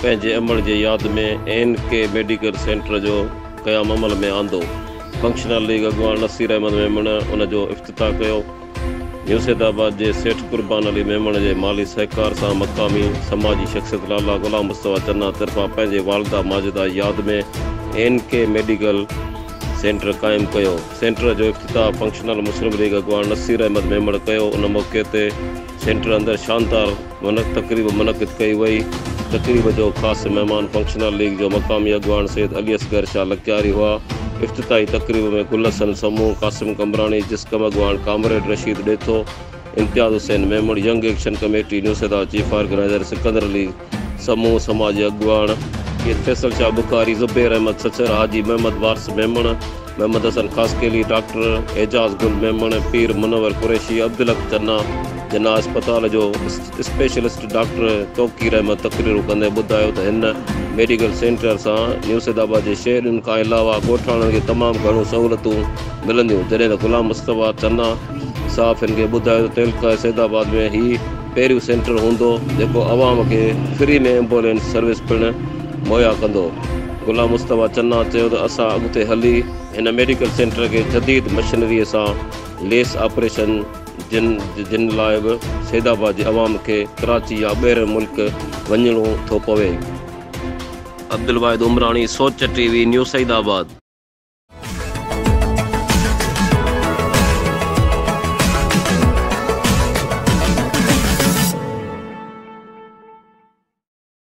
پنهنجي امڙ جي ياد ۾ اين ڪي ميڊيڪيئر سينٽر جو قيام عمل ۾ آندو. فنڪشنل ليگ اڳواڻ نصير احمد ميمڻ ان جو افتتاح ڪيو. نيو سيد آباد جي سيٺ قربان علي ميمڻ جي مالي سهڪار سان مقامي سماجي شخصيت لالا غلام مصطفيٰ چنا طرفان پنهنجي والده ماجده جي ياد ۾ اين ڪي ميڊيڪيئر سينٽر قائم ڪيو. سينٽر جو افتتاح فنڪشنل مسلم ليگ اڳواڻ نصير احمد ميمڻ ڪيو. ان موقعي تي سينٽر اندر شاندار. منعقد تقريب منعقد ڪئي وئي. تقريب جو خاص مهمان فنڪشنل ليگ جو مقامي اڳواڻ سيد علي اصغر شاهه لڪياري هئا. افتتاحي تقريب ۾ گل حسن سمون، قاسم قمبراڻي، جسقم اڳواڻ comrade Rasheed Detho, Imtiaz Hussain Memon, young action committee Naushahro chief organiser Sikandar Ali Samoon, سماجي اڳواڻ، سيد فيصل شاهه بخاري، زبير احمد سڇر، حاجي محمد وارث ميمڻ، محمد حسن خاصخيلي، ڊاڪٽر اعجاز گل ميمڻ، پير منور قريشي، عبدالحق چنا، جناح اسپتال جو اسپيشلسٽ ڊاڪٽر توقير احمد تقريرون ڪندي ٻڌايو ته هن ميڊيڪل سينٽر سان نيوسيد آباد جي شهرين کان علاوه ڳوٺاڻن کي تمام گهڻيون سهولتون ملنديون جڏهن ته غلام مصطفيٰ چنا صحافين کي ٻڌايو ته تعلقه سيد آباد ۾ هي پهريون سينٽر هوندو جيڪو عوام کي فري ۾ ايمبولينس سروس پڻ مهيا ڪندو. غلام مصطفيٰ چنا چيو ته اسان اڳتي هلي هن ميڊيڪل سينٽر کي جديد مشينريء سان ليس آپريشن جن جن لاء به سيد آباد جي عوام کي ڪراچي يا ٻير ملڪ وڃڻو ٿو پوي. Abdul Wahid Umrani Soch T V news Saeedabad آباد.